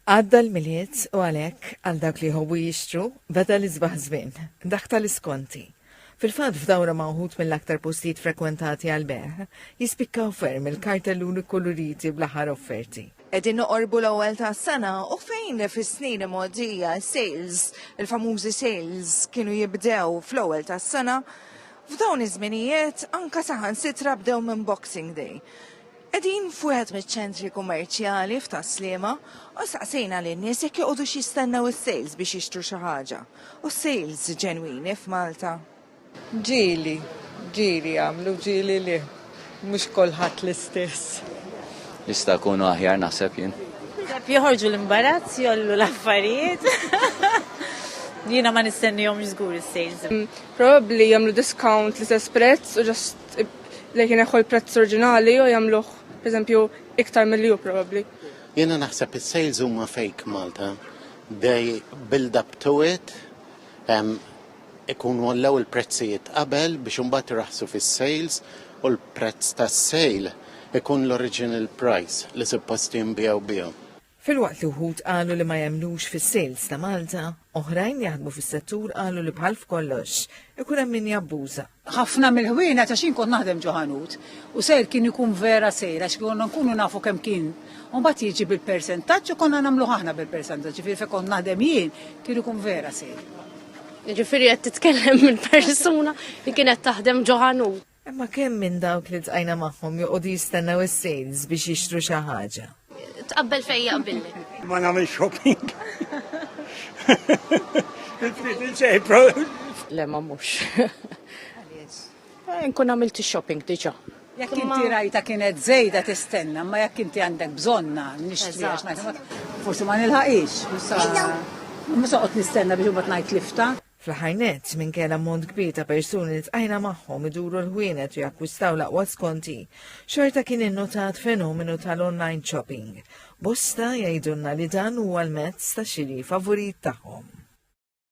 Għadda l-Milied u għalhekk, għal dawk li jħobbu jixtru, beda l-isbaħ żmien, dak tal-iskonti. Fil-fatt f'dawra ma' wħud mill-aktar postijiet frekwentati għall-bejgħ, jispikkaw ferm il-kartelluni kkuluriti bl-aħħar offerti. Qegħdin noqorbu l-ewwel tas-sena u fejn fis-snin imgħoddija sales, il-famużi sales kienu jibdew fl-ewwel tas-sena, f'dawn iż-żminijiet anke saħansitra bdew minn Boxing Day. Qegħdin f'wieħed miċ-ċentri kummerċjali f'Tas-Sliema u staqsejna lin-nies jekk joqogħdux jistennew is-sales biex jixtru xi ħaġa. U sales ġenwini f'Malta? Ġieli, ġieli jagħmlu, ġieli le. Mhux kulħadd l-istess. Jista' jkunu aħjar naħseb jien. Naħseb joħorġu l-imbarazz, jgħollu l-affarijiet. Jiena ma nistennihomx żgur is-sales. Probabbli jagħmlu discount l-istess prezz u just li kien ineħħu l-prezz oriġinali u jagħmluh pereżempju iktar milli hu probabbli. Jiena naħseb is-sales huma fake Malta. They build up to it, ikunu għallew il-prezzijiet qabel biex imbagħad iraħsu fis-sales u l-prezz tas-sale ikun l-original price li suppost jinbiegħu bihom. Filwaqt li wħud qalu li ma jemnux fis-sales ta' Malta, oħrajn li jaħdmu fis-settur qalu li bħal f'kollox, ikun hemm min jabbuża. Ħafna mill-ħwienet għax jien kont naħdem ġo ħanut u sejr kien ikun vera sejr għax konna nkunu nafu kemm kien u mbagħad jiġi bil-persentaġġ u konna nagħmluh aħna bil-persentaġġ, ġifieri fejn kont naħdem jien kien ikun vera sejr. Jiġifieri qed titkellem minn persuna li kienet taħdem ġo ħanut. Imma kemm minn dawk li tqajna magħhom joqogħdu jistennew is-sales biex jixtru xi ħaġa? Tqabbel fejn jaqbilli. Ma nagħmel shopping. Le ma mhux. Eh, nkun għamilt shopping diġà. Jekk inti rajta kienet żejda tistenna, ma jekk inti għandek bżonna nixtri għax forsi ma nilħaqix. Ma soqgħod nistenna biex imbagħad ngħid lifta. Fl-aħħar nett, minkejja l-ammont kbir ta' persuni li tqajna magħhom iduru l-ħwienet u jakkwistaw l-aqwa skonti, xorta kien innutat fenomenu tal-online shopping. Bosta jgħidulna li dan huwa l-mezz ta' xiri favurit tagħhom.